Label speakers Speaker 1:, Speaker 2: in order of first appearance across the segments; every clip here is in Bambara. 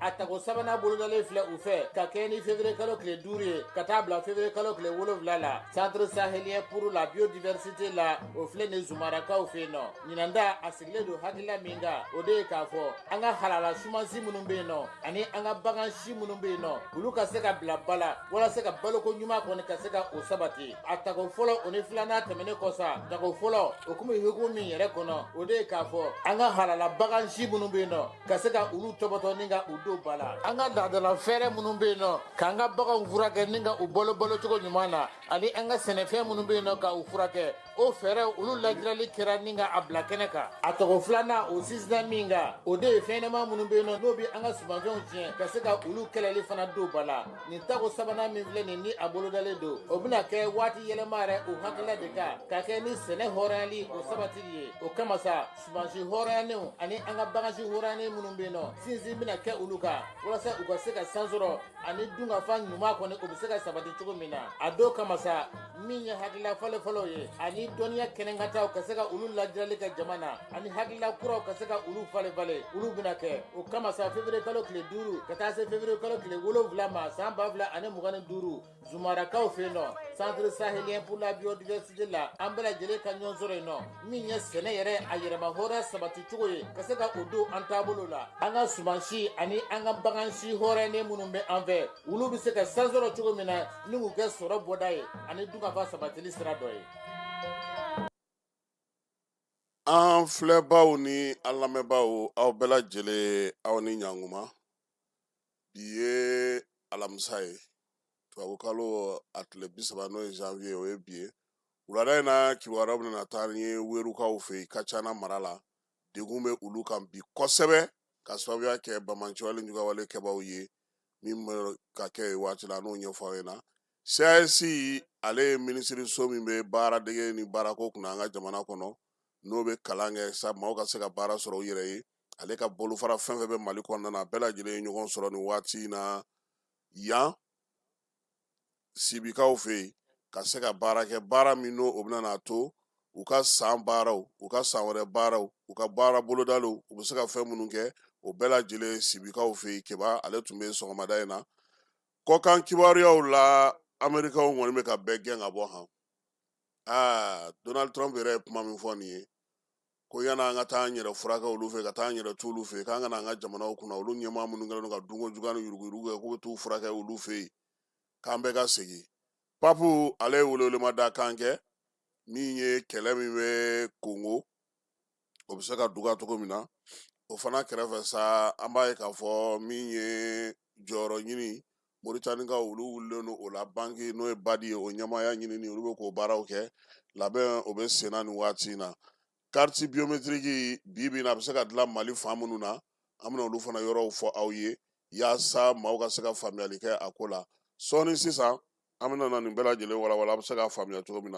Speaker 1: a tago sabanan bolodalen filɛ u fɛ ka kɛɲɛ ni février kalo tile duuru ye ka taa bila février kalo tile wolonwula la centre sahélien pour la biodiversité la o filɛ nin zumarakaw fɛ yen nɔ ɲinan ta a sigilen don hakilila min kan o de ye k'a fɔ an ka halala sumansi minnu bɛ yen nɔ ani an ka bagan si minnu bɛ yen nɔ olu ka se ka bila ba la walasa ka baloko ɲuman kɔni ka se ka o sabati a tago fɔlɔ o ni filanan tɛmɛnen kɔ sa tago fɔlɔ o kun bɛ hukumu min yɛrɛ kɔnɔ o de ye k'a fɔ an ka halala bagan si minnu bɛ yen nɔ ka se ka olu tɔbɔtɔ ni ka u don ba la an ka laadala fɛɛrɛ minnu bɛ yen nɔ k'an ka baganw furakɛ ni ka u balo balo cogo ɲuman na ani an ka sɛnɛfɛn minnu bɛ yen nɔ ka u furakɛ o fɛɛrɛ olu lajirali kɛra ni ka a bila kɛnɛ kan a tako filanan o sinsinna min kan o de ye fɛnɲɛnama minnu bɛ yen nɔ n'o bɛ an ka sumanfɛnw tiɲɛ ka se ka olu kɛlɛli fana don ba la nin tako sabanan min filɛ nin ni a bolodalen don o bɛna kɛ waati yɛlɛma yɛrɛ o hakilila de kan ka kɛ ni sɛnɛ hɔrɔnyali o sabatili ye o kama sa Sumansi hɔrɔnyanenw ani an ka bagansi hɔrɔnyanen minnu bɛ yen nɔ sinsin bɛna kɛ olu kan walasa u ka se ka san sɔrɔ ani dunkafa ɲuman kɔni o bɛ se ka sabati cogo min na a don kama sa min ye hakilila falen-falenw ye ani dɔnniya kɛnɛkantaw ka se ka olu lajirali kɛ jama na ani hakilila kuraw ka se ka olu falen-falen olu bɛna kɛ o kama sa février kalo tile duuru ka taa se février kalo tile wolonwula ma san ba fila ani mugan ni duuru Zumarakaw fɛ yen nɔ centre sahélien pour la biodiversité la an bɛɛ lajɛlen ka ɲɔgɔn sɔrɔ yen nɔ min ye sɛnɛ yɛrɛ a yɛrɛmahɔrɔnya sabati cogo ye ka se ka o don an taabolo la an ka sumansi ani an ka bagan si hɔrɔnyalen minnu bɛ an fɛ olu bɛ se ka sansɔrɔ cogo min na ni k'u kɛ sɔrɔ bɔda ye ani dunkafa sabatili sira dɔ
Speaker 2: ye an filɛbaaw ni an lamɛnbaaw aw bɛɛ lajɛlen aw ni ɲankuma bi ye alamisa ye tubabukalo a tile bi saba n'o ye janvier o ye bi ye wulada in na kibaruya bɛna taa ni ye weerukaw fɛ yen kacana mara la degun bɛ olu kan bi kosɛbɛ ka sababuya kɛ banbaanciwale jugawale kɛbaw ye min bɛ ka kɛ yen waati la n'o ɲɛfɔ aw ɲɛna CAAS ale ye minisiriso min bɛ baaradege ni baarako kunna an ka jamana kɔnɔ n'o bɛ kalan kɛ sa maaw ka se ka baara sɔrɔ u yɛrɛ ye ale ka bolofara fɛn fɛn bɛ mali kɔnɔna na bɛɛ lajɛlen ye ɲɔgɔn sɔrɔ nin waati in na yan sibikaw fɛ yen ka se ka baara kɛ baara min n'o o bɛna n'a to u ka san baaraw u ka san wɛrɛ baaraw u ka baara bolodaliw u bɛ se ka fɛn minnu kɛ o bɛɛ lajɛlen sibikaw fɛ yen keba ale tun bɛ sɔgɔmada in na kɔkan kibaruyaw la amerikaw kɔni bɛ ka bɛɛ gɛn ka bɔ han aa donald trump yɛrɛ ye kuma min fɔ nin ye ko yanni an ka taa an yɛrɛ furakɛ olu fɛ ka taa an yɛrɛ to olu fɛ k'an ka na an ka jamanaw kunna olu ɲɛmaa minnu kɛlen don ka dunko juguya ni yuruguyurugu kɛ k'u bɛ t'u furakɛ olu fɛ yen k'an bɛɛ ka segin papu ale ye welewelema da kan kɛ min ye kɛlɛ min bɛ kongo o bɛ se ka duga cogo min na o fana kɛrɛfɛ sa an b'a ye k'a fɔ min ye jɔyɔrɔ ɲini Moritanikaw olu wulilen don o la banki n'o ye badi ye o ɲɛmaaya ɲinini olu bɛ k'o baaraw kɛ labɛn o bɛ senna nin waati in na kariti biyometiriki bi bi in na a bɛ se ka dilan mali fan minnu na an bɛna olu fana yɔrɔw fɔ aw ye yaasa maaw ka se ka faamuyali kɛ a ko la sɔɔni sisan an bɛna na nin bɛɛ lajɛlen walawala a bɛ se ka faamuya cogo min na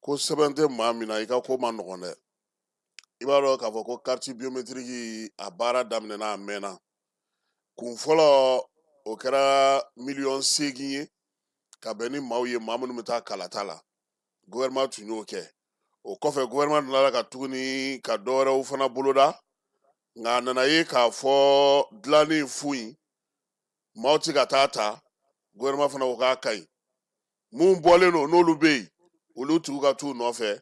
Speaker 2: ko sɛbɛn tɛ maa min na i ka ko man nɔgɔn dɛ i b'a dɔn k'a fɔ ko kariti biyometiriki a baara daminɛna a mɛnna kun fɔlɔ o kɛra miliyɔn seegin ye ka bɛn ni maaw ye maa minnu bɛ taa kalata la gɔvɛrɛnman tun y'o kɛ o kɔfɛ gɔvɛrɛnman nana ka tuguni ka dɔwɛrɛw fana boloda nka a nana ye k'a fɔ dilanni fu in maaw tɛ ka taa ta gɔvɛrɛnman fana ko k'a ka ɲi min bɔlen don n'olu bɛ yen olu tigiw ka t'u nɔfɛ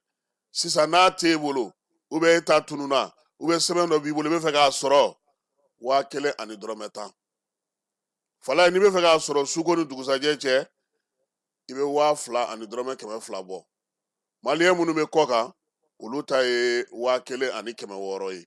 Speaker 2: sisan n'a t'e bolo ou bien e ta tununa ou bien sɛbɛn dɔ b'i bolo i bɛ fɛ k'a sɔrɔ waa kelen ani dɔrɔmɛ tan fala n'i bɛ fɛ k'a sɔrɔ suko ni dugusajɛ cɛ i bɛ waa fila ani dɔrɔmɛ kɛmɛ fila bɔ maliyɛn minnu bɛ kɔkan olu ta ye waa kelen ani kɛmɛ wɔɔrɔ ye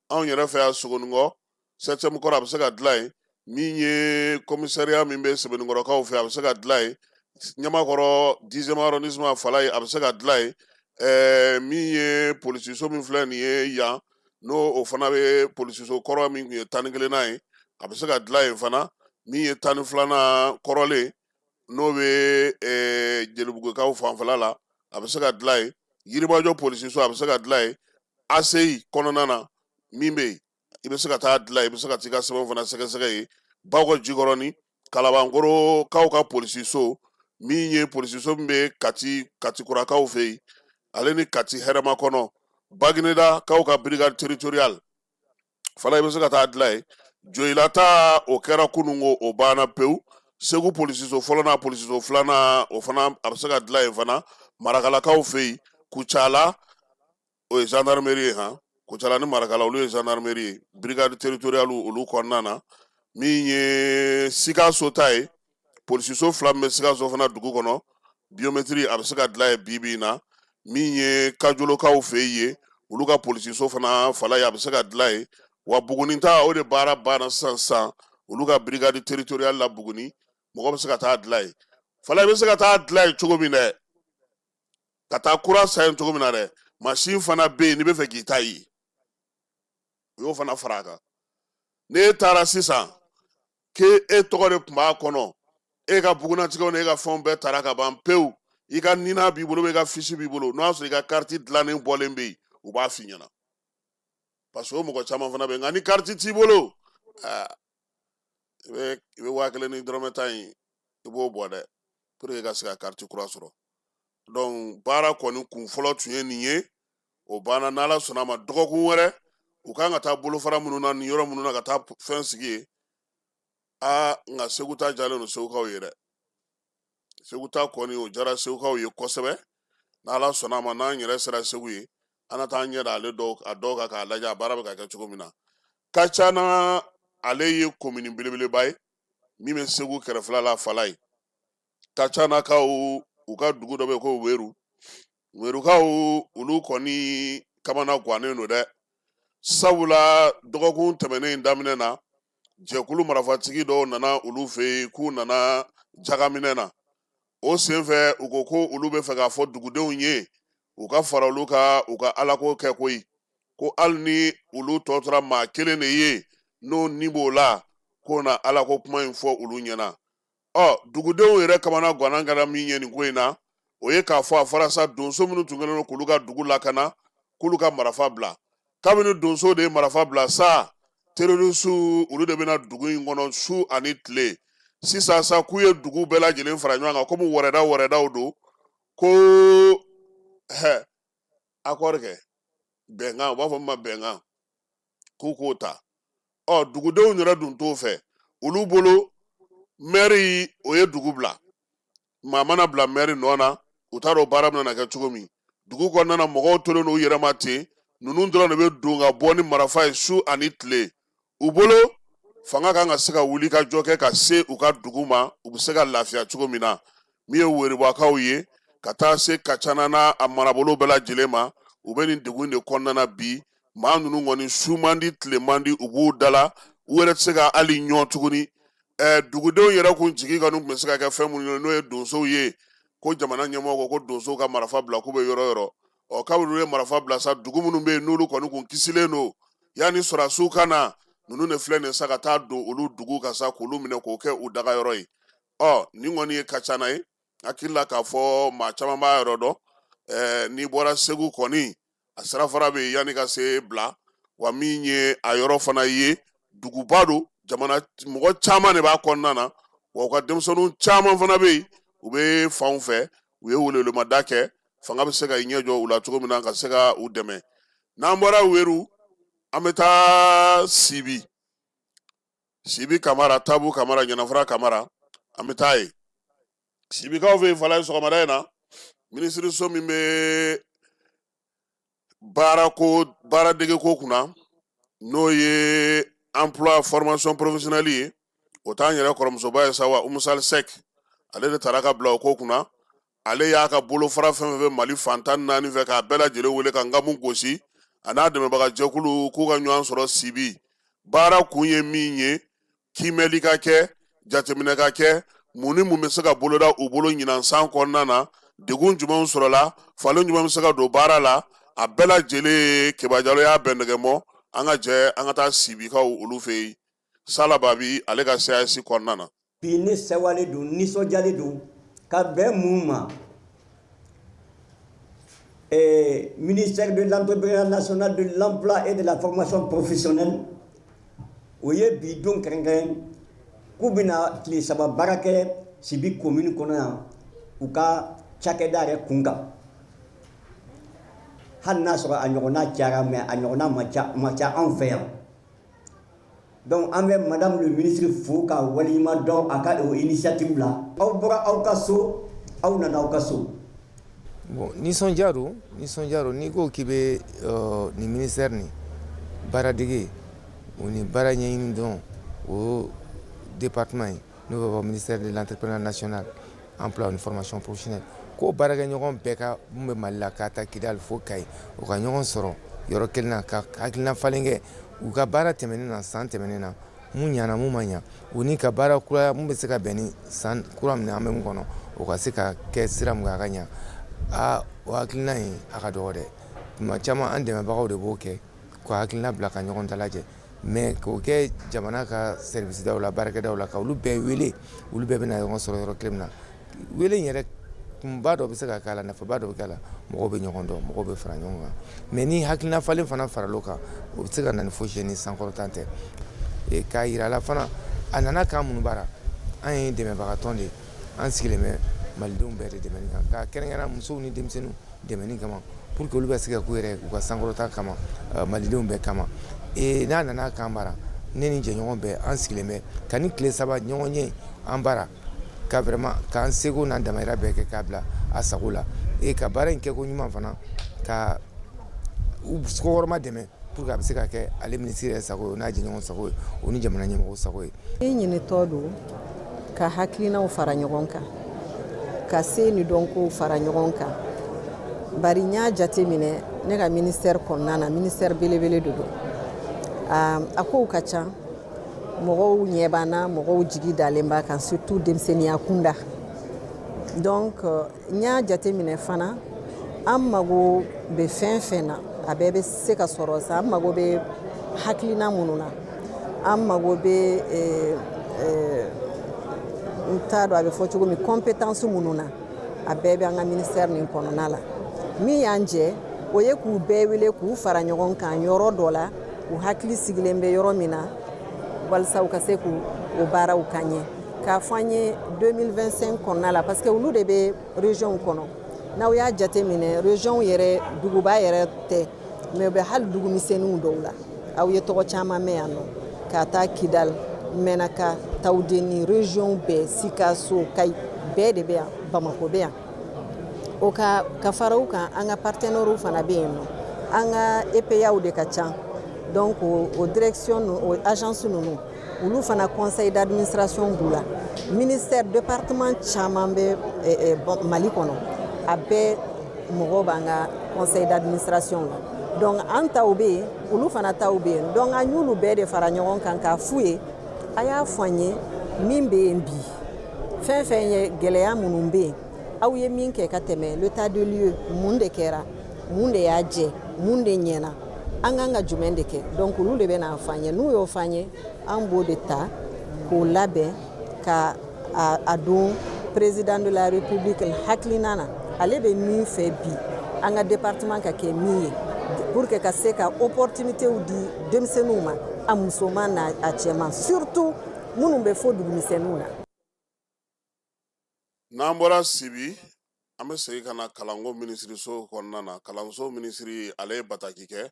Speaker 2: anw yɛrɛ fɛ yan sogonikɔ sɛtiyɛmu kɔrɔ a bɛ se ka dilan yen min ye kɔmisariya min bɛ sebenikɔrɔkaw fɛ a bɛ se ka dilan yen ɲamakɔrɔ dizɛmu arɔndisiman fala ye a bɛ se ka dilan yen ɛɛ min ye polisiso min filɛ nin ye yan n'o o fana bɛ polisiso kɔrɔ min tun ye tan ni kelennan ye a bɛ se ka dilan yen fana min ye tan ni filanan kɔrɔlen n'o bɛ jelibugukaw fanfɛla la a bɛ se ka dilan yen yirimajɔ polisiso a bɛ se ka dilan yen aseyi kɔnɔna na min bɛ yen i bɛ se ka taa dilan yen i bɛ se ka taa i ka sɛbɛn fana sɛgɛsɛgɛ yen bakɔ jikɔrɔni kalabankɔrɔkaw ka polisiso min ye polisiso min bɛ katikurakaw fɛ yen ale ni kati hɛrɛmakɔnɔ baginedakaw ka birikadi teritoriyali fana i bɛ se ka taa dilan yen joyila ta o kɛra kunun ko o banna pewu segu polisiso fɔlɔ n'a polisiso filanan o fana a bɛ se ka dilan yen fana marakalakaw fɛ yen kucala o ye zandarimeri ye han kucala ni marakala olu ye zandarimeri ye birikadi teritoriyali olu kɔnɔna na min ye sikaso ta ye polisiso fila min bɛ sikaso fana dugu kɔnɔ biyometiri a bɛ se ka dilan yen bi bi in na min ye kajolokaw fɛ yen olu ka polisiso fana falaye a bɛ se ka dilan yen wa buguni ta o de baara banna sisan sisan olu ka birikadi teritoriyali la buguni mɔgɔ bɛ se ka taa dilan yen falaye bɛ se ka taa dilan yen cogo min dɛ ka taa kura san yen cogo min na dɛ masin fana bɛ yen n'i bɛ fɛ k'i ta yen u y'o fana fara a kan n'e taara sisan k'e tɔgɔ de tun b'a kɔnɔ e ka bugunnatigɛw ni e ka fɛnw bɛɛ tara ka ban pewu i ka nina b'i bolo i ka fisi b'i bolo n'o y'a sɔrɔ i ka kariti dilannen bɔlen bɛ yen u b'a f'i ɲɛna parce que o mɔgɔ caman fana bɛ yen nka ni kariti t'i bolo aa i bɛ i bɛ waa kelen ni dɔrɔmɛ tan in i b'o bɔ dɛ pour que i ka se ka kariti kura sɔrɔ dɔnku baara kɔni kun fɔlɔ tun ye nin ye o banna n'ala sɔnna a ma dɔgɔkun wɛrɛ u kan ka taa bolofara minnu na ni yɔrɔ minnu na ka taa fɛn sigi yen aa nka segu ta jalen don segukaw ye dɛ segu ta kɔni o jara segukaw ye kosɛbɛ n'ala sɔnna a ma n'an yɛrɛ sera segu yen an na taa ɲɛ da ale dɔw a dɔw kan k'a lajɛ a baara bɛ ka kɛ cogo min na kacana ale ye komini belebeleba ye min bɛ segu kɛrɛfɛla la falaye kacanakaw u ka dugu dɔ bɛ ko weru werukaw olu kɔni kamanagannen don dɛ sabula dɔgɔkun tɛmɛnen in daminɛ na jɛkulu marafatigi dɔw nana olu fɛ yen k'u nana jakaminɛ na o senfɛ u ko ko olu bɛ fɛ k'a fɔ dugudenw ye u ka fara olu kan u ka alako kɛ koyi ko hali ni olu tɔ tora maa kelen de ye n'o ni b'o la k'o na alako kuma in fɔ olu ɲɛna ɔ dugudenw yɛrɛ kamanagan kɛra min ye nin ko in na o ye k'a fɔ a fɔra sa donso minnu tun kɛlen don k'olu ka dugu lakana k'olu ka marifa bila kabini donso de ye marifa bila sa terrorisiw olu de bɛ na dugu in kɔnɔ su ani tile sisan sa k'u ye dugu bɛɛ lajɛlen fara ɲɔgɔn kan komi wɛrɛda wɛrɛdaw don ko hɛ akɔri kɛ bɛnkan u b'a fɔ min ma bɛnkan k'u k'o ta ɔ dugudenw yɛrɛ dun t'o fɛ olu bolo mɛri o ye dugu bila maa mana bila mɛri nɔ na u t'a dɔn baara bɛna kɛ cogo min dugu kɔnɔna na mɔgɔw tolen don u yɛrɛ ma ten ninnu dɔrɔn de bɛ don ka bɔ ni marafa ye su ani tile u bolo fanga kan ka se ka wuli ka jɔ kɛ ka se u ka dugu ma u bɛ se ka lafiya cogo min na min ye weribakaw ye ka taa se kacana n'a marabolo bɛɛ lajɛlen ma u bɛ nin degun de kɔnɔna na bi maa ninnu kɔni su man di tile man di u b'u dala u yɛrɛ tɛ se ka hali ɲɔn tuguni ɛɛ dugudenw yɛrɛ kun jigi kɔni tun bɛ se ka kɛ fɛn minnu ye n'o ye donsow ye ko jamana ɲɛmɔgɔ ko ko donsow ka marifa bila k'u bɛ yɔrɔ yɔrɔ ɔ kabini olu ye marifa bila sa dugu minnu bɛ yen n'olu kɔni kun kisilen don yanni sɔrɔdasiw ka na ninnu de filɛ nin ye sa ka taa don olu dugu kan sa k'olu minɛ k'o kɛ u dagayɔrɔ ye ɔ nin kɔni ye kacana ye hakili la k'a fɔ maa caman b'a yɔrɔ dɔn eh, n'i bɔra segu kɔni a sirafara bɛ yanni ka se bila wa min ye a yɔrɔ fana ye duguba don jamana mɔgɔ caman de b'a kɔnɔna na wa u ka denmisɛnninw caman fana bɛ yen u bɛ fanw fɛ u ye welewelemada kɛ fanga bɛ se ka i ɲɛ jɔ u la cogo min na ka se ka u dɛmɛ n'an bɔra weru an bɛ taa sibi sibi kamara tabu kamara ɲɛnafura kamara an bɛ taa yen sibikaw fɛ yen falaye sɔgɔmada in na minisiriso min bɛ baaradegeko kunna n'o ye emploi formation professionnelle ye o t'an yɛrɛ kɔrɔmusoba ye sa wa umu sali sɛki ale de tara ka bila o ko kunna ale y'a ka bolofara fɛn fɛn bɛ mali fan tan naani fɛ k'a bɛɛ lajɛlen wele ka nkamu gosi a n'a dɛmɛbagajɛkulu k'u ka ɲɔgɔn sɔrɔ sibi baara kun ye min ye kiimɛli ka kɛ jateminɛ ka kɛ mun ni mun bɛ se ka boloda u bolo ɲinan san kɔnɔna na degun jumɛnw sɔrɔla falen jumɛn bɛ se ka don baara la a bɛɛ lajɛlen keba jalo y'a bɛn nɛgɛmɔ an ka jɛ an ka taa sibikaw olu fɛ yen Sala Babi ale ka CAAS kɔnɔna na bi ne
Speaker 3: sewalen don nisɔndiyalen don ka bɛn mun ma ee ministère de l'entrepreneuriat national de l'emploi et de la formation professionnelle o ye bi don kɛrɛnkɛrɛn k'u bɛna tile saba baara kɛ sibi komini kɔnɔ yan u ka cakɛda yɛrɛ kunkan hali n'a sɔrɔ a ɲɔgɔnna kɛra mais a ɲɔgɔnna man ca anw fɛ yan Donc an bɛ madame le ministre fo ka waleɲuman dɔn a ka o initiative la aw bɔra aw ka so aw nana aw ka so bon
Speaker 4: nisɔndiya nisɔndiya n'i ko k'i bɛ nin ministère nin baaradege o ni baara ɲɛɲini dɔn o département ye N'o bɛ fɔ ministère de l'entrepreneuriat national, emploi ni formation professionnelle k'o baarakɛɲɔgɔn bɛɛ ka mun bɛ Mali la k'a ta Kidali fo Kayi u ka ɲɔgɔn sɔrɔ yɔrɔ kelen na ka hakilina falen kɛ u ka baara tɛmɛnen na san tɛmɛnen na mun ɲana mun ma ɲa u ni ka baara kura mun bɛ se ka bɛn ni san kura min an bɛ mun kɔnɔ o ka se ka kɛ sira mun kan a ka ɲa aa o hakilina in a ka dɔgɔ dɛ tuma caman an dɛmɛbagaw de b'o kɛ ka hakilina bila ka ɲɔgɔn dalajɛ Mais k'o kɛ jamana ka service daw la baarakɛdaw la ka olu bɛɛ wele olu bɛɛ bɛna ɲɔgɔn sɔrɔ yɔrɔ kelen min na wele in yɛrɛ kunba dɔ bɛ se ka k'a la nafaba dɔ bɛ k'a la mɔgɔw bɛ ɲɔgɔn dɔn mɔgɔw bɛ fara ɲɔgɔn kan mais ni hakilina falen fana faral'o kan o bɛ se ka na ni fosi ye ni sankɔrɔta tɛ k'a jir'a la fana a nana k'an minnu baara an ye dɛmɛbagatɔn de ye an sigilen bɛ malidenw bɛɛ de dɛmɛ kan ka kɛrɛnkɛrɛn musow ni denmisɛnninw dɛmɛ kama pour que olu bɛ se ka k'u yɛrɛ u ka sankɔrɔta kama malidenw bɛɛ kama ee n'a nana k'an bara ne ni jɛɲɔgɔn bɛɛ an sigilen bɛ ka ni tile saba ɲɔgɔn ye an bara ka vraiment k'an seko n'an damahira bɛɛ kɛ k'a bila a sago la ee ka baara in kɛko ɲuman fana ka kɔkɔrɔma dɛmɛ pour que a bɛ se ka kɛ ale minisiri yɛrɛ sago n'a jɛɲɔgɔn sago o ni jamana ɲɛmɔgɔ sago ye e ɲinitɔ don
Speaker 5: ka hakilinaw fara ɲɔgɔn kan ka se ni dɔnkow fara ɲɔgɔn kan bari n y'a jate minɛ ne ka ministère kɔnɔna na ministère belebele de don a kow ka ca mɔgɔw ɲɛ b'an na mɔgɔw jigi dalen b'a kan surtout denmisɛnninya kunda donc n y'a jate minɛ fana an mago bɛ fɛn fɛn na a bɛɛ bɛ se ka sɔrɔ sa an mago bɛ hakilina minnu na an mago bɛ eh, eh, n t'a dɔn a bɛ fɔ cogo min compétence minnu na a bɛɛ bɛ an ka ministère nin kɔnɔna la min y'an jɛ o ye k'u bɛɛ wele k'u fara ɲɔgɔn kan yɔrɔ dɔ la u hakili sigilen bɛ yɔrɔ min na walisa u ka se k'u o baaraw ka ɲɛ K'a fɔ an ye 2025 kɔnɔna la parce que olu de bɛ région kɔnɔ n'aw y'a jate minɛ région yɛrɛ duguba yɛrɛ tɛ mais u bɛ hali dugu misɛnninw dɔw la aw ye tɔgɔ caman mɛn yan nɔ ka taa kidali mɛnaka tawudeni région bɛɛ sikaso kayi bɛɛ de bɛ yan bamako bɛ yan o ka ka fara u kan an ka partenaires fana bɛ yen nɔ an ka epaw de ka ca donc o direction o agence ninnu olu fana conseil d'administration b'u la ministère département caman bɛ eh, eh, mali kɔnɔ a bɛɛ mɔgɔw b'an ka conseil d'administration la donc an taw bɛ yen olu fana taw bɛ yen donc an y'olu bɛɛ de fara ɲɔgɔn kan k'a f'u ye a y'a fɔ an ye min bɛ yen bi fɛn fɛn ye gɛlɛya minnu bɛ yen aw ye min kɛ ka tɛmɛ l'état de lieu mun de kɛra mun de y'a jɛ mun de ɲɛna an kan ka jumɛn de kɛ donc olu de bɛn'a fɔ an ye n'u y'o fɔ an ye an b'o de ta k'o labɛn ka a don président de la république hakilina na ale bɛ min fɛ bi an ka département ka kɛ min ye pour que ka se ka opportunitéw di denmisɛnninw ma a musoman n'a cɛman surtout minnu bɛ fo dugumisɛnninw na
Speaker 2: N'an bɔra sibi an bɛ segin ka na kalanko minisiriso kɔnɔna na kalanso minisiri ale ye bataki kɛ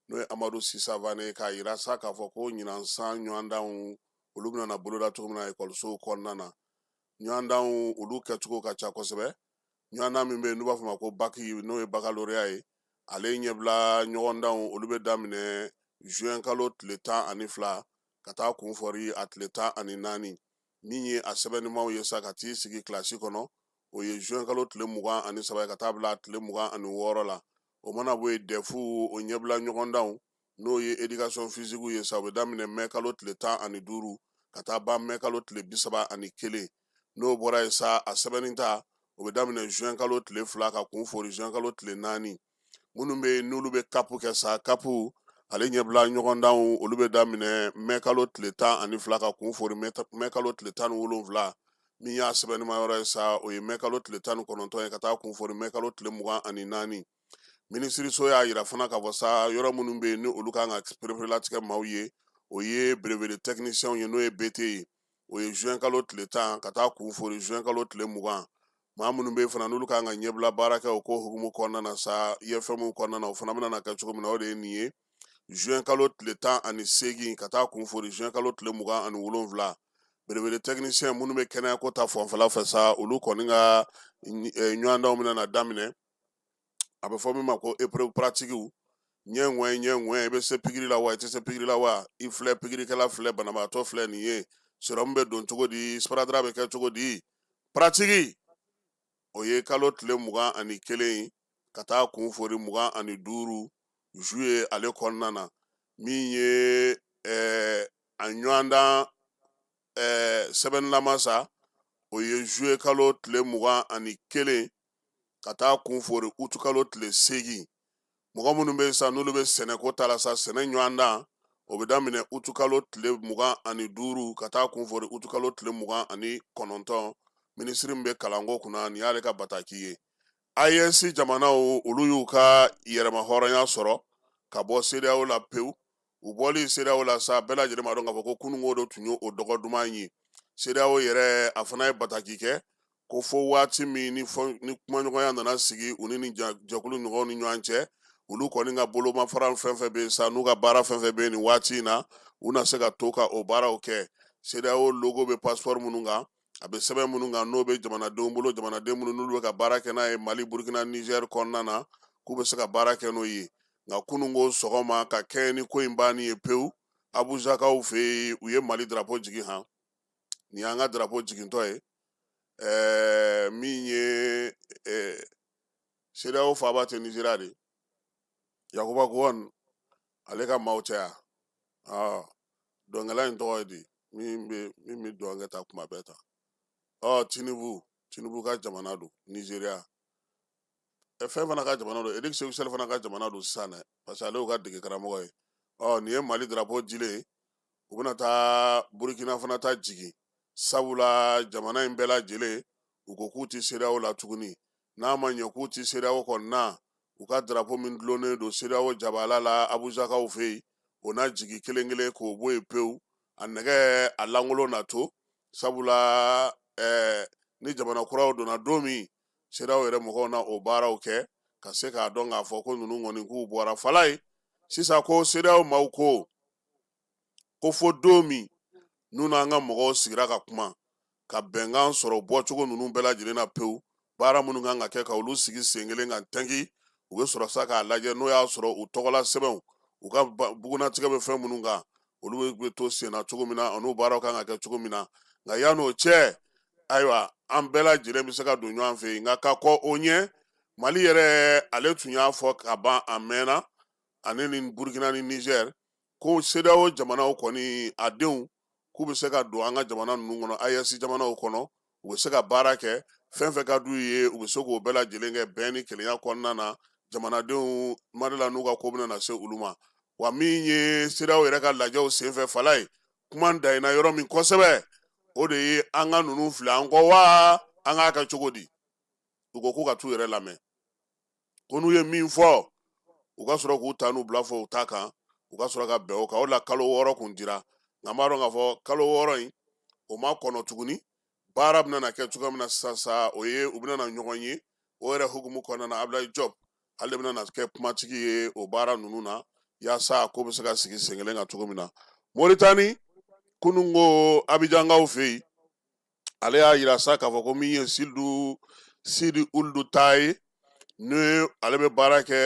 Speaker 2: n'o ye amadu sisavane k'a yira sa k'a fɔ ko ɲinan san ɲɔgɔndanw olu bɛna boloda cogo min na ekɔlisow kɔnɔna na ɲɔgɔndanw olu kɛcogo ka ca kosɛbɛ ɲɔgɔndan min bɛ yen n'u b'a fɔ ma ko baki n'o ye bakaloreya ye ale ɲɛbila ɲɔgɔndanw olu bɛ daminɛ zuwɛnkalo tile tan ani fila ka taa kunfɔri a tile tan ani naani min ye a sɛbɛnnimaw ye sa ka t'i sigi kilasi kɔnɔ o ye zuwɛn kalo tile mugan ani saba ka taa bila tile mugan ani wɔɔrɔ la o mana bɔ yen dɛfu o ɲɛbila ɲɔgɔndanw n'o ye éducation physique ye sa o bɛ daminɛ mɛ kalo tile tan ani duuru ka taa ban mɛ kalo tile bi saba ani kelen n'o bɔra yen sa a sɛbɛnni ta o bɛ daminɛ zuwɛn kalo tile fila ka kun fori zuwɛn kalo tile naani minnu bɛ yen n'olu bɛ kapu kɛ sa kapu ale ɲɛbila ɲɔgɔndanw olu bɛ daminɛ mɛ kalo tile tan ani fila ka kun fori mɛ kalo tile tan ni wolonwula min y'a sɛbɛnnima yɔrɔ ye sa o ye mɛ kalo tile tan ni kɔnɔntɔn ye ka taa kun fori mɛ kalo tile mugan ani naani minisiriso y'a yira fana k'a fɔ sa yɔrɔ minnu bɛ yen ni olu kan ka pereperelatigɛ maaw ye o ye brevet de technicien ye n'o ye BT ye o ye juin kalo tile tan ka taa kun fori juin kalo tile mugan maa minnu bɛ fana n'olu kan ka ɲɛbila baara kɛ o ko hukumu kɔnɔna na sa IFM kɔnɔna na o fana bɛna kɛ cogo min na o de ye nin ye juin kalo tile tan ani seegin ka taa kun fori juin kalo tile mugan ani wolonwula brevet de technicien minnu bɛ kɛnɛyako ta fanfɛla fɛ sa olu kɔni ka ɲɔgɔndanw bɛna na daminɛ a bɛ fɔ min ma ko épreuve pratique ɲɛ ŋɔɲɛ ɲɛ ŋɔɲɛ i bɛ se pikiri la wa i tɛ se pikiri la wa i filɛ pikirikɛla filɛ banabaatɔ filɛ nin ye sérum bɛ don cogo di sparadrap bɛ kɛ cogo di pratique o ye kalo tile mugan ani kelen ka taa kun fori mugan ani duuru juillet ale kɔnɔna na min ye ɛɛ a ɲɔgɔndan ɛɛ sɛbɛnnilama sa o ye juillet kalo tile mugan ani kelen ka taa kun fori utukalo tile seegin mɔgɔ minnu bɛ yen sa n'olu bɛ sɛnɛko ta la sa sɛnɛ ɲɔgɔndan o bɛ daminɛ utukalo tile mugan ani duuru ka taa kun fori utukalo tile mugan ani kɔnɔntɔn minisiri min bɛ kalanko kunna nin y'ale ka bataki ye AES jamanaw olu y'u ka yɛrɛmahɔrɔnya sɔrɔ ka bɔ CEDEAO la pewu u bɔli CEDEAO la sa bɛɛ lajɛlen b'a dɔn k'a fɔ ko kununko don tun ye o dɔgɔ duman ye CEDEAO yɛrɛ a fana ye bataki kɛ ko fo waati min ni kumaɲɔgɔnya nana sigi u ni nin jɛkulu ɲɔgɔn ni ɲɔgɔn cɛ olu kɔni ka bolomafara fɛn fɛn bɛ sa n'u ka baara fɛn fɛn bɛ nin waati in na u na se ka to ka o baaraw kɛ CEDEAO logo bɛ passeport minnu kan a bɛ sɛbɛn minnu kan n'o bɛ jamanadenw bolo jamanaden minnu n'olu bɛ ka baara kɛ n'a ye mali burukina nizɛri kɔnɔna na k'u bɛ se ka baara kɛ n'o ye nka kununko sɔgɔma ka kɛ ni ko in banni ye pewu abuzakaw fɛ yen u ye mali darapo jigin han nin y'an ka darapo jigintɔ ye ɛɛ min ye ɛɛ CEDEAO faaba tɛ nizeriya de yakuba gowon ale ka maaw cɛ yan ɔ dɔnkɛla in tɔgɔ ye di min bɛ min bɛ dɔnkɛ ta kuma bɛɛ ta ɔ tinubu tinubu ka jamana don nizeriya fɛn fana ka jamana don eric seku sɛli fana ka jamana don sisan dɛ parce que ale y'u ka dege karamɔgɔ ye ɔ nin ye mali darapo jigilen ye u bɛna taa burukina fana ta jigin sabula jamana in bɛɛ lajɛlen u ko k'u tɛ sedeyawo la tuguni n'a ma ɲɛ k'u tɛ sedeyawo kɔnɔna na u ka darapo min dulonnen don sedeyawo jabala la abuzakaw fɛ yen o na jigin kelen kelen k'o bɔ yen pewu a nɛgɛ a lankolon na to sabula ɛɛ ni jamana kuraw donna don min sedeyawo yɛrɛ mɔgɔw na o baaraw kɛ ka se k'a dɔn k'a fɔ ko ninnu kɔni k'u bɔra fala yen sisan ko sedeyawo maaw ko ko fo don min n'u n'an ka mɔgɔw sigira ka kuma ka bɛnkan sɔrɔ bɔcogo ninnu bɛɛ lajɛlen na pewu baara minnu kan ka kɛ ka olu sigi sen kelen kan tɛnki u bɛ sɔrɔ sa k'a lajɛ n'o y'a sɔrɔ u tɔgɔla sɛbɛnw u ka bugunnatigɛ bɛ fɛn minnu kan olu bɛ to senna cogo min na an'u baaraw kan ka kɛ cogo min na nka yan'o cɛ ayiwa an bɛɛ lajɛlen bɛ se ka don ɲɔgɔn fɛ yen nka ka kɔn o ɲɛ mali yɛrɛ ale tun y'a fɔ ka ban a mɛnna ani ni burukina ni nizɛri ko sedeyawo jamanaw kɔni a denw k'u bɛ se ka don an ka jamana ninnu kɔnɔ aɛsi jamanaw kɔnɔ u bɛ se ka baara kɛ fɛn fɛn ka d'u ye u bɛ se k'o bɛɛ lajɛlen kɛ bɛn ni kelenya kɔnɔna na jamanadenw ma d'a la n'u ka ko bɛna na se olu ma wa min ye sedeyawo yɛrɛ ka lajɛw senfɛ fala yen kuma dayina yɔrɔ min kosɛbɛ o de ye an ka ninnu fili an kɔ wa an k'a kɛ cogo di u ko k'u ka taa u yɛrɛ lamɛn ko n'u ye min fɔ u ka sɔrɔ k'u ta n'u bila fɔ u ta kan u ka sɔrɔ ka bɛn o kan o la kalo wɔɔrɔ kun dira nka b'a dɔn k'a fɔ kalo wɔɔrɔ in o ma kɔnɔ tuguni baara bɛna na kɛ cogoya min na sisan sa o ye u bɛna na ɲɔgɔn ye o yɛrɛ hukumu kɔnɔna na abudulayi jɔp ale de bɛna na kɛ kumatigi ye o baara ninnu na yaasa ko bɛ se ka sigi sen kelen kan cogo min na moritani kununko abijankaw fɛ yen ale y'a yira sa k'a fɔ ko min ye si sidi uludu ta ye ni ale bɛ baara kɛ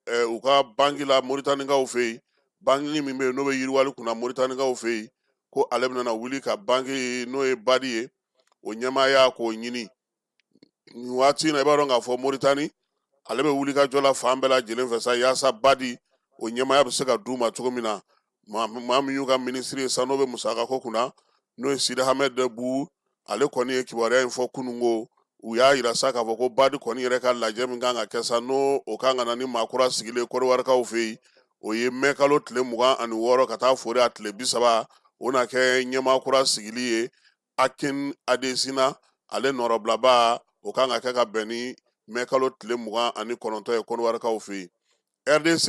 Speaker 2: eh, u ka banki la moritanikaw fɛ yen banki min bɛ yen n'o bɛ yiriwali kunna moritanikaw fɛ yen ko ale bɛna na wuli ka banki n'o ye badi ye o ɲɛmaaya k'o ɲini nin waati na i b'a dɔn k'a fɔ moritani ale bɛ wulikajɔ la fan bɛɛ lajɛlen fɛ sa yaasa badi o ɲɛmaaya bɛ se ka d'u ma cogo min na maa min y'u ka minisiri ye sa n'o bɛ musaka ko kunna n'o ye sidi hamɛdi bu ale kɔni ye kibaruya in fɔ kunun ko u y'a yira sa k'a fɔ ko badi kɔni yɛrɛ ka lajɛ min kan ka kɛ sa n'o o kan ka na ni maa kura sigili ye kɔdiwarikaw fɛ yen o ye mɛkalo tile mugan ani wɔɔrɔ ka taa foori a tile bi saba o na kɛ ɲɛmaa kura sigili ye akin adesina ale nɔrɔbilaba o kan ka kɛ ka bɛn ni mɛ kalo tile mugan ani kɔnɔntɔn ye kɔnɔwarikaw fɛ yen rdc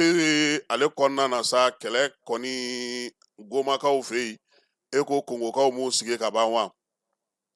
Speaker 2: ale kɔnɔna na sa kɛlɛ kɔni gomakaw fɛ yen e ko kongokaw m'u sigi ka ban wa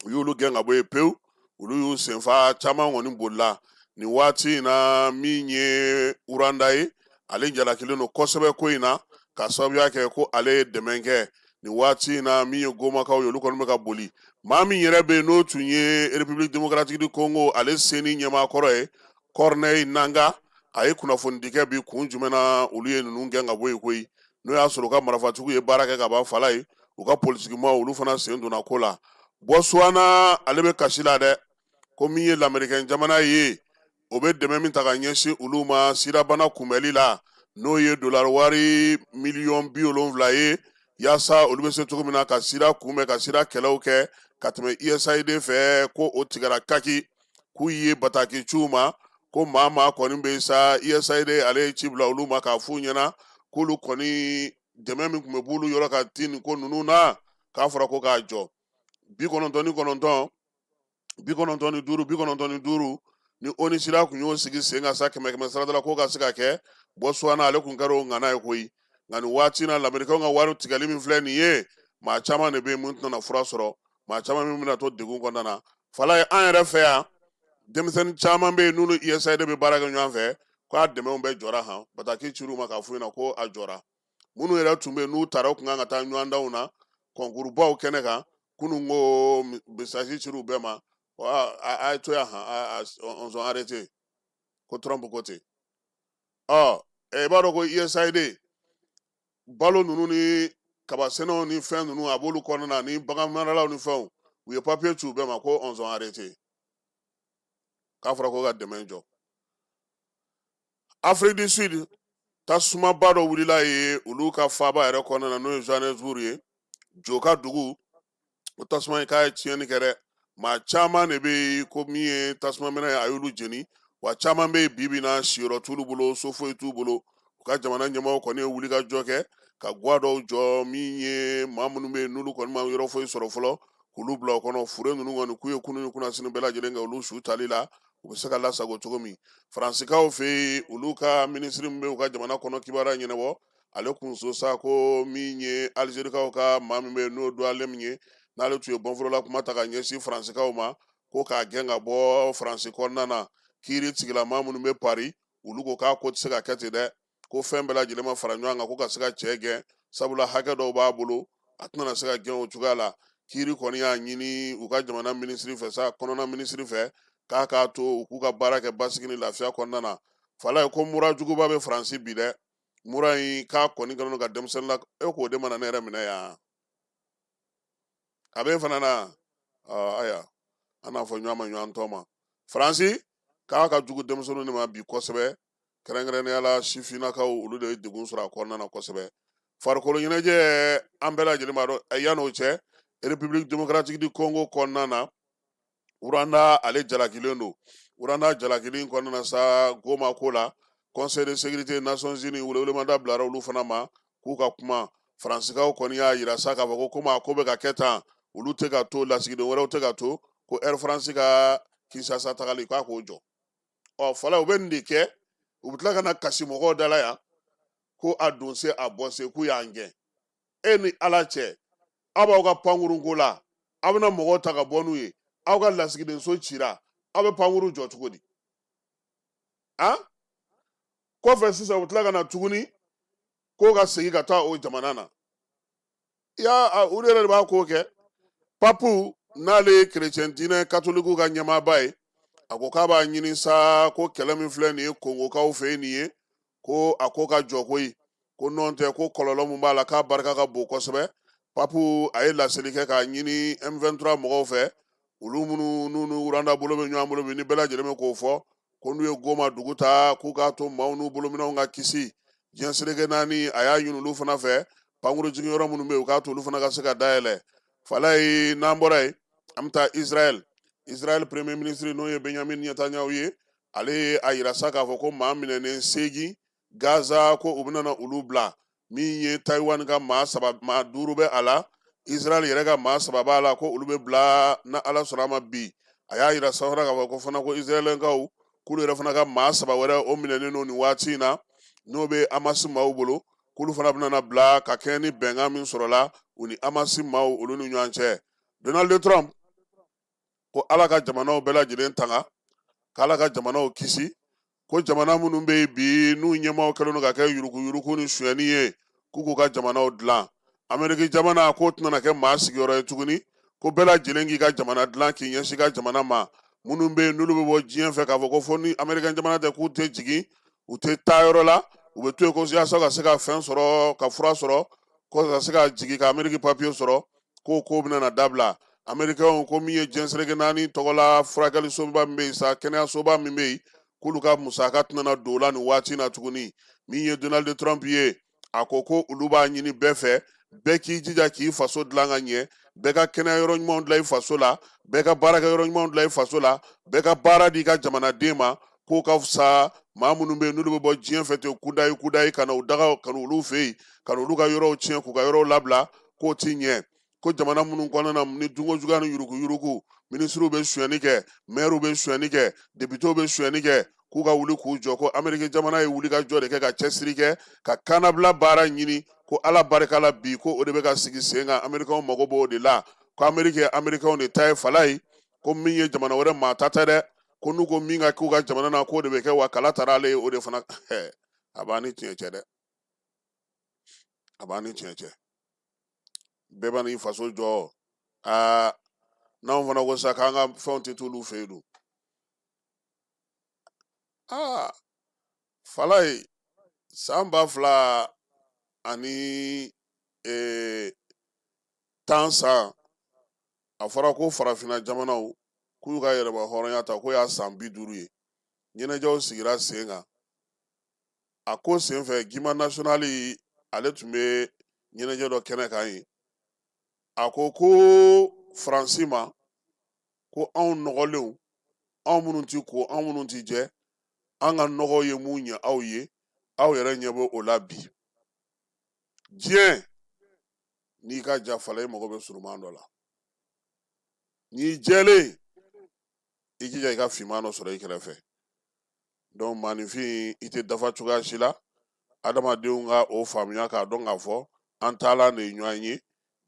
Speaker 2: u y'olu gɛn ka bɔ yen pewu olu y'u senfa caman kɔni bolila nin waati in na min ye uranda ye ale jalakilen don kosɛbɛ ko in na ka sababuya kɛ ko ale ye dɛmɛ kɛ nin waati in na min ye gomakaw ye olu kɔni bɛ ka boli maa min yɛrɛ bɛ yen n'o tun ye république démocratique du congo ale seni ɲɛmaakɔrɔ ye corneille nangaa a ye kunnafonidi kɛ bi kun jumɛn na olu ye ninnu gɛn ka bɔ yen koyi n'o y'a sɔrɔ u ka marafatigiw ye baara kɛ ka ban fala ye u ka politigimaaw olu fana sen donna ko la botswana ale bɛ kasi la dɛ ko min ye lamerikɛn jamana ye o bɛ dɛmɛ min ta ka ɲɛsin olu ma sidabana kunbɛli la n'o ye dolari wari miliyɔn bi wolonwula ye yaasa olu bɛ se cogo min na ka sida kunbɛn ka sida kɛlɛw kɛ ka tɛmɛ usaid fɛ ko o tigɛra kaki k'u ye bataki ci u ma ko maa maa kɔni bɛ sa usaid ale ye ci bila olu ma k'a f'u ɲɛna k'olu kɔni dɛmɛ min tun bɛ b'olu yɔrɔ ka ti nin ko ninnu na k'a fɔra ko k'a jɔ bi kɔnɔntɔn ni kɔnɔntɔn bi kɔnɔntɔn ni duuru bi kɔnɔntɔn ni duuru ni onusida tun y'o sigi sen kan sa kɛmɛ kɛmɛ sarada la k'o ka se ka kɛ botswana ale tun kɛra o ŋana ye koyi nka nin waati na lamerikɛnw ka wari tigɛli min filɛ nin ye maa caman de bɛ yen min tɛna fura sɔrɔ maa caman min bɛna to degun kɔnɔna na fala ye an yɛrɛ fɛ yan denmisɛnnin caman bɛ yen n'olu USAID bɛ baara kɛ ɲɔgɔn fɛ k'a dɛmɛw bɛɛ jɔra han bataki cir'u ma k'a f'u ɲɛna ko a jɔra minnu yɛrɛ tun bɛ yen n'u taara u tun kan ka taa ɲɔgɔndanw na kɔnkurubaw kɛnɛ kan kunun ko mesaji cir'u bɛɛ ma a ye to yan han on sont arrêtés ko Trump ko ten ɔ i b'a dɔn ko USAID balo ninnu ni kabasɛnɛw ni fɛn ninnu a b'olu kɔnɔna na ni baganmaralaw ni fɛnw u ye papiye ci u bɛɛ ma ko ɔnzɔn arete k'a fɔra ko ka dɛmɛ jɔ afrique du sud tasumaba dɔ wulila ye olu ka faaba yɛrɛ kɔnɔna na n'o ye johannesburg ye jo ka dugu o tasuma in k'a ye tiɲɛni kɛ dɛ maa caman de bɛ yen ko min ye tasuma minɛ ye a y'olu jeni wa caman bɛ yen bi bi in na siyɔrɔ t'olu bolo so foyi t'u bolo u ka jamana ɲɛmaaw kɔni ye wulikajɔ kɛ ka gwa dɔw jɔ min ye maa minnu bɛ yen n'olu kɔni ma yɔrɔ foyi sɔrɔ fɔlɔ k'olu bila o kɔnɔ fure ninnu kɔni k'u ye kunun ni kunnasini bɛɛ lajɛlen kɛ olu su tali la u bɛ se ka lasago cogo min faransikaw fɛ yen olu ka minisiri min bɛ u ka jamana kɔnɔ kibaruya ɲɛnabɔ ale kun so sa ko min ye alizerikaw ka maa min bɛ yen n'o doualemn ye n'ale tun ye bɔnforola kuma ta ka ɲɛsin faransikaw ma ko k'a gɛn ka bɔ faransi kɔnɔna na kiiri tigilama minnu bɛ pari olu ko k'a ko tɛ se ka kɛ ten dɛ ko fɛn bɛɛ lajɛlen ma fara ɲɔgɔn kan ko ka se ka cɛ gɛn sabula hakɛ dɔw b'a bolo a tɛna se ka gɛn o cogoya la kiiri kɔni y'a ɲini u ka jamana minisiri fɛ sa kɔnɔna minisiri fɛ k'a k'a to u k'u ka baara kɛ basigi ni lafiya kɔnɔna na falaye ko mura juguba bɛ faransi bi dɛ mura in k'a kɔni kɛlen don ka denmisɛnnin la e k'o de mana ne yɛrɛ minɛ yan a bɛ fana na aya an n'a fɔ ɲɔgɔn ma ɲɔgɔn tɔ ma faransi k'a ka jugu denmisɛnninw de ma bi kosɛbɛ kɛrɛnkɛrɛnnenya la sifinnakaw olu de ye degun sɔrɔ a kɔnɔna na kosɛbɛ farikolo ɲɛnajɛ an bɛɛ lajɛlen b'a dɔn yan n'o cɛ republiki demokaratiki di kongo kɔnɔna na uranda ale jalakilen don uranda jalakili kɔnɔna na sa goma ko la conseil de sécurité nations unies welewelemada bilara olu fana ma k'u ka kuma faransikaw kɔni y'a yira sa k'a fɔ ko komi a ko bɛ ka kɛ tan olu tɛ ka to lasigiden wɛrɛw tɛ ka to ko air france ka kinsasa tagali k'a k'o jɔ ɔ fɔlɔ u bɛ nin de kɛ u bɛ tila ka na kasi mɔgɔw dala yan ko a don se a bɔ se k'u y'an gɛn e ni ala cɛ aw b'aw ka pankurunko la aw bɛna mɔgɔw ta ka bɔ n'u ye aw ka lasigidenso cira aw bɛ pankuru jɔ cogo di a kɔfɛ sisan u bɛ tila ka na tuguni k'o ka segin ka taa o jamana na ya olu yɛrɛ de b'a ko kɛ papu n'ale ye kerecɛn diinɛ katolikiw ka ɲɛmaaba ye a ko k'a b'a ɲini sa ko kɛlɛ min filɛ nin ye kongokaw fɛ yen nin ye ko a ko ka jɔ koyi ko nɔntɛ ko kɔlɔlɔ min b'a la k'a barika ka bon kosɛbɛ papu a ye laseli kɛ k'a ɲini m23 mɔgɔw fɛ olu minnu n'u ni uranda bolo bɛ ɲɔgɔn bolo bi ni bɛɛ lajɛlen bɛ k'o fɔ ko n'u ye goma dugu ta k'u k'a to maaw n'u bolominɛnw ka kisi diɲɛ seleke naani a y'a ɲini olu fana fɛ pankuru jigin yɔrɔ minnu bɛ yen u k'a to olu fana ka se ka dayɛlɛ falaye n'an bɔra yen an bɛ taa israɛl israɛl premier ministre n'o ye benyamin netanyahu ye ale ye a yira sa k'a fɔ ko maa minɛnen seegin gaza ko u bɛna na olu bila min ye taiwan ka maa saba maa duuru bɛ a la israɛl yɛrɛ ka maa saba b'a la ko olu bɛ bila n'ala sɔnna a ma bi a y'a yira sa fana k'a fɔ ko fana ko israɛlɛnkaw k'olu yɛrɛ fana ka maa saba wɛrɛ o minɛnen don nin waati in na n'o bɛ amasi maaw bolo k'olu fana bɛna na bila ka kɛɲɛ ni bɛnkan min sɔrɔla u ni amasi maaw olu ni ɲɔgɔn cɛ donald trump ko ala ka jamanaw bɛɛ lajɛlen tanga k'ala ka jamanaw kisi ko jamana minnu bɛ yen bi n'u ɲɛmaaw kɛlen don ka kɛ yuruguyurugu ni suyɛni ye k'u k'u ka jamanaw dilan ameriki jamana k'o tɛna kɛ maa sigiyɔrɔ ye tuguni ko bɛɛ lajɛlen k'i ka jamana dilan k'i ɲɛsin i ka jamana ma minnu bɛ yen n'olu bɛ bɔ diɲɛ fɛ k'a fɔ ko fo ni ameriki jamana tɛ k'u tɛ jigin u tɛ taa yɔrɔ la u bɛ to yen ko yaasa ka se ka fɛn sɔrɔ ka fura sɔrɔ ko ka se ka jigin ka ameriki papiye sɔrɔ k'o ko bɛna dabila amerikɛnw ko min ye diɲɛ seleke naani tɔgɔla furakɛlisoba min bɛ yen sa kɛnɛyasoba min bɛ yen k'olu ka musaka tɛna don o la nin waati na tuguni min ye donald trump ye a ko ko olu b'a ɲini bɛɛ fɛ bɛɛ k'i jija k'i faso dilan ka ɲɛ bɛɛ ka kɛnɛya yɔrɔ ɲumanw dilan i faso la bɛɛ ka baarakɛ yɔrɔ ɲumanw dilan i faso la bɛɛ ka baara di i ka jamanaden ma k'o ka fisa maa minnu bɛ yen n'olu bɛ bɔ diɲɛ fɛ ten kudayi kudayi ka na u daga ka olu fɛ yen ka olu ka yɔrɔw tiɲɛ k'u ka yɔrɔw labila k'o tɛ ɲɛ ko jamana minnu kɔnɔna na ni dunko juguya ni yuruguyurugu minisiriw bɛ suyɛni kɛ mɛriw bɛ suyɛni kɛ depitew bɛ suyɛni kɛ k'u ka wuli k'u jɔ ko ameriki jamana ye wuli ka jɔ de kɛ ka cɛsiri kɛ ka kanabila baara ɲini ko ala barika la bi ko o de bɛ ka sigi sen kan amerikanw mago b'o de la ko ameriki ye amerikanw de ta ye falaye ko min ye jamana wɛrɛ maa ta tɛ dɛ ko n'u ko min ka k'u ka jamana na k'o de bɛ kɛ wa kala taara ale ye o de fana a b'a ni tiɲɛ cɛ dɛ a b'a ni tiɲɛ cɛ bɛɛ bɛna i faso jɔ aa n'anw fana ko sa k'an ka fɛnw tɛ t'olu fɛ yen don aa falaye san ba fila ani ee, tan san a fɔra ko farafinna jamanaw k'u y'u ka yɛrɛmahɔrɔnya ta k'o y'a san bi duuru ye ɲɛnajɛw sigira sen kan a ko senfɛ guimba national ale tun bɛ ɲɛnajɛ dɔ kɛnɛ kan ye a ko ko faransi ma ko anw nɔgɔlenw anw minnu tɛ ko anw minnu tɛ jɛ an ka nɔgɔ ye mun ɲɛ aw ye aw yɛrɛ ɲɛ bɛ o la bi diɲɛ n'i ka jan fala i mago bɛ surunman dɔ la n'i jɛlen i jija i ka finman dɔ sɔrɔ i kɛrɛfɛ donc maaninfin i tɛ dafa cogoya si la adamadenw ka o faamuya k'a dɔn k'a fɔ an taalan de ye ɲɔgɔn ye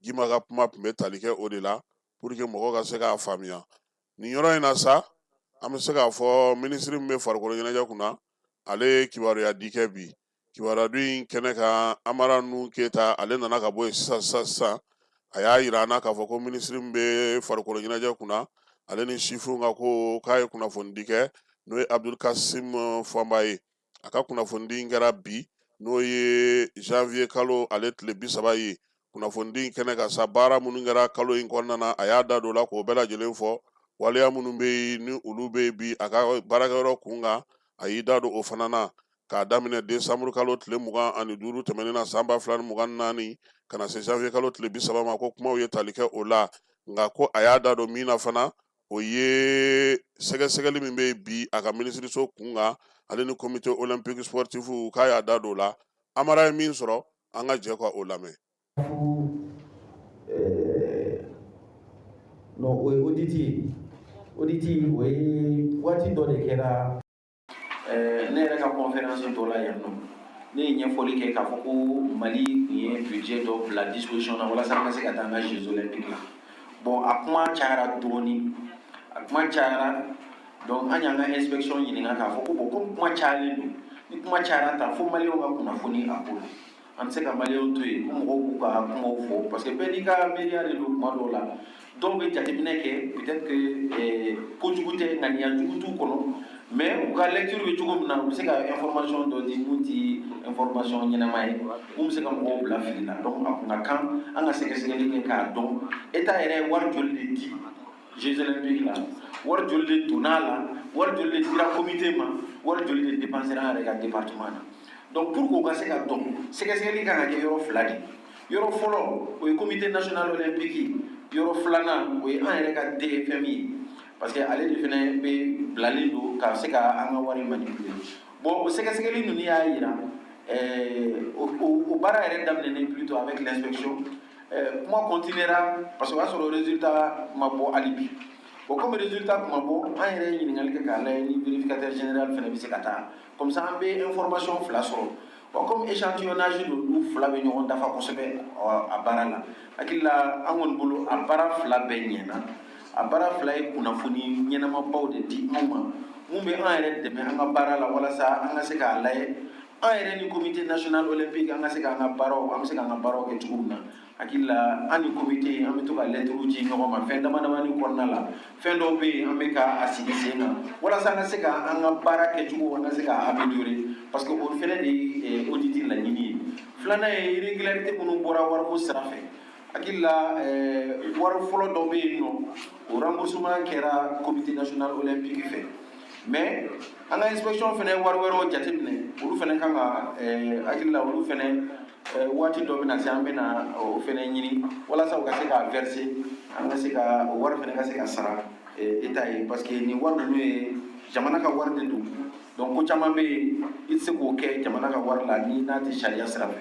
Speaker 2: guimba ka kuma tun bɛ tali kɛ o de la pour que mɔgɔw ka se k'a faamuya nin yɔrɔ in na sa an bɛ se k'a fɔ minisiri min bɛ farikolo ɲɛnajɛ kunna ale ye kibaruyadi kɛ bi kibaruyadi in kɛnɛ kan amara nu keyita ale nana ka bɔ yen sisan sisan sisan a y'a yira an na k'a fɔ ko minisiri min bɛ farikolo ɲɛnajɛ kunna ale ni sifinw ka ko k'a ye kunnafonidi kɛ n'o ye abdul kasim fɔnba ye a ka kunnafonidi in kɛra bi n'o ye janvier kalo ale tile bi saba ye kunnafonidi kɛnɛ kan sa baara minnu kɛra kalo in kɔnɔna na a y'a da don o la k'o bɛɛ lajɛlen fɔ waleya minnu bɛ yen ni olu bɛ yen bi a ka baarakɛyɔrɔ kun kan a y'i da don o fana na k'a daminɛ desanburu kalo tile mugan ani duuru tɛmɛnen na san ba fila ni mugan ni naani ka na se janvier kalo tile bi saba ma ko kumaw ye tali kɛ o la nka ko a y'a da don min na fana o ye sɛgɛsɛgɛli min bɛ yen bi a ka minisiriso kun kan ale ni comité olympique sportif k'a y'a da don o la amara ye min sɔrɔ an ka jɛ ka o
Speaker 6: lamɛn o ye audit audit o ye waati dɔ de kɛra ne yɛrɛ ka conférence dɔ la yan nɔ ne ye ɲɛfɔli kɛ k'a fɔ ko mali tun ye budget dɔ bila disposition na walasa an ka se ka taa an ka jeux olympiques la bon a kuma cayara dɔɔni a kuma cayara donc an y'an ka inspection ɲininka k'a fɔ ko bon comme kuma cayalen don ni kuma cayara tan fo maliyɛnw ka kunnafoni a ko la an tɛ se ka maliyɛnw to yen ko mɔgɔw k'u ka kumaw fɔ parce que bɛɛ n'i ka miiriya de don kuma dɔw la dɔw bɛ jateminɛ kɛ peut-être que eh, kojugu tɛ ŋaniya jugu t'u kɔnɔ mais u ka lecture bɛ cogo min na u bɛ se ka information dɔ di mun ti information ɲɛnama ye mun bɛ se ka mɔgɔw bila fili la donc a kun ka kan an ka sɛgɛsɛgɛli kɛ k'a dɔn eta yɛrɛ ye wari joli de di jeux olympiques la wari joli de donna a la wari joli de dira comité ma wari joli de dépensera an yɛrɛ ka département na donc pour que o ka se ka dɔn sɛgɛsɛgɛli kan ka kɛ yɔrɔ fila de yɔrɔ fɔlɔ o ye comité national olympique yɔrɔ filanan o ye an yɛrɛ ka dfm ye parce que ale de fɛnɛ bɛ bilalen don ka se ka an ka wari manipuler bon o sɛgɛsɛgɛli ninnu y'a yira o baara yɛrɛ daminɛnen plutôt avec l'inspection Ɛɛ kuma continuera parce que o y'a sɔrɔ résultat ma bɔ hali bi. Bon comme résultat tun ma bɔ, an yɛrɛ ye ɲininkali kɛ k'a lajɛ ni vérificateur général fɛnɛ bɛ se ka taa. Comme ça an bɛ information fila sɔrɔ. Bon comme échantillonnage don, olu fila bɛ ɲɔgɔn dafa kosɛbɛ a baara la. Hakili la an kɔni bolo a baara fila bɛɛ ɲɛna. A baara fila ye kunnafoni ɲɛnamabaw de di anw ma, mun bɛ an yɛrɛ dɛmɛ an ka baara la walasa an ka se k'a lajɛ an yɛrɛ ni comité national olympique an ka se k'an ka baaraw an bɛ se k'an ka baaraw kɛ cogo min na hakili la an ni comité an bɛ to ka lɛtiriw ci ɲɔgɔn ma fɛn dama damani kɔnɔna la fɛn dɔw bɛ yen an bɛ ka a sigi sen kan walasa an ka se ka an ka baara kɛcogo an ka se k'a améliorer parce que o fɛnɛ de ye audit laɲini ye filanan ye irrégularité minnu bɔra wariko sira fɛ hakili la eh, wari fɔlɔ dɔ bɛ yen nɔ o remboursement kɛra comité national olympique fɛ mais an ka inspection fɛnɛ wari wɛrɛw jateminɛ olu fɛnɛ kan ka eh, hakili la olu fɛnɛ eh, waati dɔ bɛna se an bɛna o fɛnɛ ɲini walasa u ka se k'a verser an ka se ka o wari fɛnɛ ka se ka sara eta ye parce que nin wari ninnu ye jamana ka wari de don donc ko caman bɛ yen i tɛ se k'o kɛ jamana ka wari la ni n'a tɛ sariya sira fɛ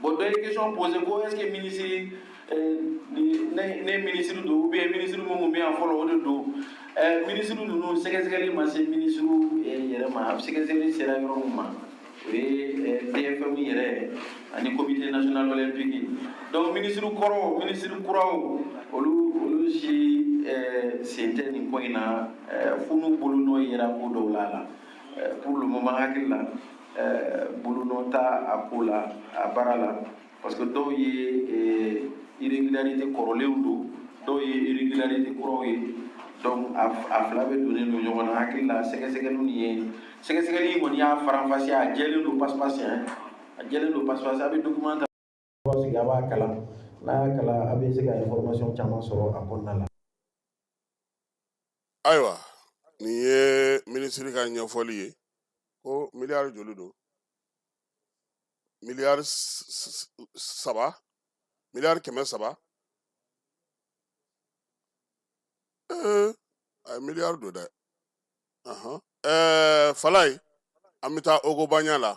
Speaker 6: Bon dɔ ye question posé ko est ce que ministre euh, ne ministre don ou bien ministre min tun bɛ yan fɔlɔ o de don ɛɛ ministre ninnu sɛgɛsɛgɛli ma se ministre yɛrɛ ma a sɛgɛsɛgɛli sera yɔrɔ min ma o ye dfm yɛrɛ ani comité national olympique donc ministre kɔrɔw ministre kuraw olu olu si ɛɛ sen tɛ nin ko in na fo n'u bolonɔ yera ko dɔw la a la pour le moment hakili la ɛɛ bolonɔ t'a a ko la a baara la parce que dɔw ye ɛɛ irrégularité kɔrɔlenw don dɔw ye irrégularité kuraw ye donc a a fila bɛ donnen don ɲɔgɔn na hakili la sɛgɛsɛgɛliw nin ye sɛgɛsɛgɛli in kɔni y'a faranfasiya a jɛlen don pasipasi a jɛlen don pasipasi a bɛ document ta sigi a b'a kalan n'a y'a kalan a bɛ se ka information caman sɔrɔ a kɔnɔna la.
Speaker 2: ayiwa nin ye minisiri ka ɲɛfɔli ye ko miliyari joli don miliyari saba miliyari kɛmɛ saba ee ayi miliyari don dɛ ɛɛ falaye an bɛ taa ogobaɲa la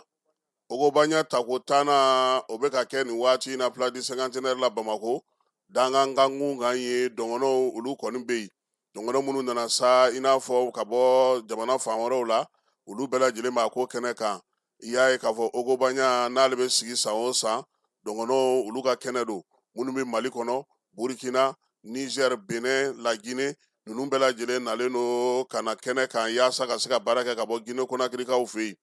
Speaker 2: ogobaɲa tako tan na o bɛ ka kɛ nin waati in na place du cinquantenaire la bamakɔ dangankankun kan ye dɔgɔnɔw olu kɔni bɛ yen dɔgɔnɔ minnu nana sa i n'a fɔ ka bɔ jamana fan wɛrɛw la olu bɛɛ lajɛlen b'a ko kɛnɛ kan i y'a ye k'a fɔ ogobanya n'ale bɛ sigi san o san dɔgɔnɔ olu ka kɛnɛ don minnu bɛ mali kɔnɔ burkina niger benin lagine ninnu bɛɛ lajɛlen nalen don ka na kɛnɛ kan yaasa ka se ka baara kɛ ka bɔ gine konakirikaw fɛ yen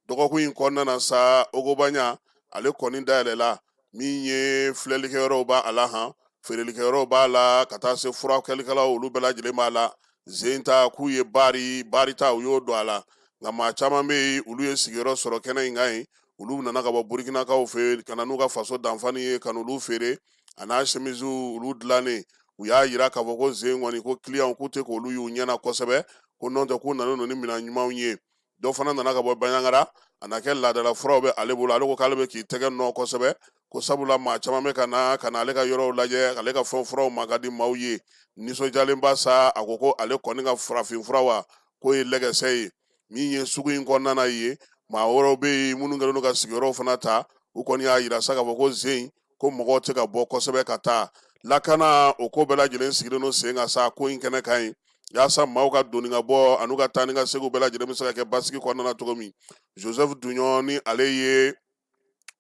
Speaker 2: dɔgɔkun in kɔnɔna na sa ogobanya ale kɔni dayɛlɛla min ye filɛlikɛyɔrɔw b'a la han feerelikɛyɔrɔw b'a la ka taa se furakɛlikɛlaw olu bɛɛ lajɛlen b'a la zen ta k'u ye baari baari ta u y'o don a la nka maa caman bɛ yen olu ye sigiyɔrɔ sɔrɔ kɛnɛ in kan yen olu nana ka bɔ burikinakaw fɛ ka na n'u ka faso danfani ye ka n'olu feere a n'a semiziw olu dilannen u y'a yira k'a fɔ ko zen kɔni ko kiliyanw k'u tɛ k'olu y'u ɲɛna kosɛbɛ ko nɔntɛ k'u nana n'u ni minɛn ɲumanw ye dɔ fana nana ka bɔ banyagara a na kɛ laadala furaw bɛ ale bolo ale ko k'ale bɛ k'i tɛgɛ nɔ kosɛbɛ ko sabula maa caman bɛ ka na ka na ale ka yɔrɔw lajɛ ale ka fɛn furaw ma ka di maaw ye nisɔndiyalenba sa a ko ko ale kɔni ka farafin fura wa k'o ye lɛgɛsɛ ye min ye sugu in kɔnɔna ye maa wɛrɛw bɛ yen minnu kɛlen don ka sigiyɔrɔw fana ta u kɔni y'a yira sa k'a fɔ ko zen ko mɔgɔw tɛ ka bɔ kosɛbɛ ka taa lakana o ko bɛɛ lajɛlen sigilen don sen kan sa ko in kɛnɛ kan yen yaasa maaw ka don ni ka bɔ an'u ka taa ni ka segin bɛɛ lajɛlen bɛ se ka kɛ basigi kɔnɔna na cogo min joseph duɲɔn ni ale ye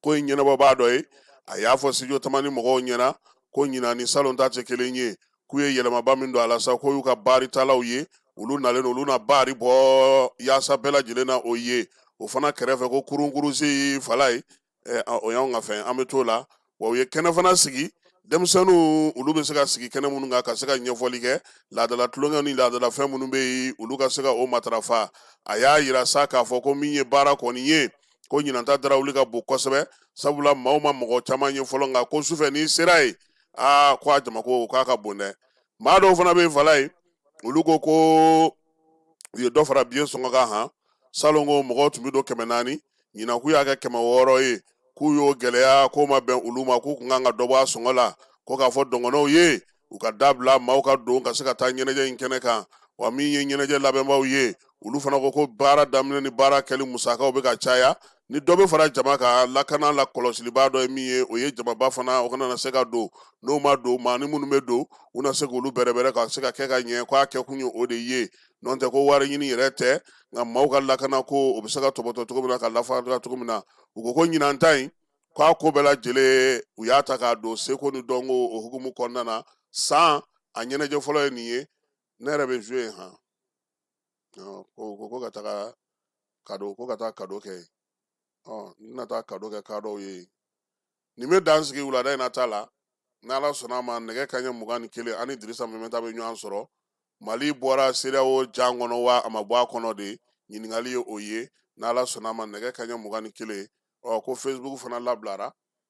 Speaker 2: ko in ɲɛnabɔbaa dɔ ye a y'a fɔ studio tamani mɔgɔw ɲɛna ko ɲinan ni salon ta tɛ kelen ye k'u ye yɛlɛmaba min don a la sa k'o y'u ka baaritalaw ye olu nalen olu na baari bɔ yaasa bɛɛ lajɛlen na o ye o fana kɛrɛfɛ ko kurunkurusi falaye o y'an ka fɛn an bɛ to la wa u ye kɛnɛ fana sigi denmisɛnninw olu bɛ se ka sigi kɛnɛ minnu kan ka se ka ɲɛfɔli kɛ laadala tulonkɛ ni laadala fɛn minnu bɛ yen olu ka se ka o matarafa a y'a yira sa k'a fɔ ko min ye baara kɔni ye ko ɲinan ta darawuli ka bon kosɛbɛ sabula maaw ma mɔgɔ caman ye fɔlɔ nka ko sufɛ n'i sera yen aa ko a jamako k'a ka bon dɛ maa dɔw fana bɛ fala ye olu ko ko u ye dɔ fara biye sɔngɔ kan han salon ko mɔgɔw tun bɛ don kɛmɛ naani ɲinan k'u y'a kɛ kɛmɛ wɔɔrɔ ye k'u y'o gɛlɛya k'o ma bɛn olu ma k'u kun kan ka dɔ bɔ a sɔngɔ la ko k'a fɔ dɔgɔnɔw ye u k'a dabila maaw ka don ka se ka taa ɲɛnajɛ in kɛnɛ kan wa min ye ɲɛnajɛ labɛnbaaw ye olu fana ko ko baara daminɛ ni baara kɛli musakaw bɛ ka caya ni dɔ bɛ fara jama ka lakana la kɔlɔsiliba dɔ ye min ye o ye jamaba fana o kana na se ka don n'o ma don maanin minnu bɛ don u na se k'olu bɛrɛbɛrɛ ka se ka kɛ ka ɲɛ k'a kɛ kun ye o de ye n'o tɛ ko wari ɲini yɛrɛ tɛ nka maaw ka lakana ko o bɛ se ka tɔpɔtɔ cogo min na ka lafa cogo min na u ko ko ɲinan ta in k'a ko bɛɛ lajɛlen u y'a ta k'a don seko ni dɔnko o hukumu kɔnɔna na san a ɲɛnajɛ fɔlɔ ye nin ye ne yɛrɛ bɛ jouer han ko ko ko ka taga kado ko ka taa kado kɛ ɔ n bɛna taa kado kɛ kadow ye nin bɛ dan sigi wulada in na ta la n'ala sɔnna a ma nɛgɛ kaɲɛ mugan ni kelen an ni dirisa mɛminta bɛ ɲɔgɔn sɔrɔ mali bɔra sedeyawo jan kɔnɔ wa a ma bɔ a kɔnɔ de ɲininkali ye o ye n'ala sɔnna a ma nɛgɛ kaɲɛ mugan ni kelen ɔ ko facebook fana labilara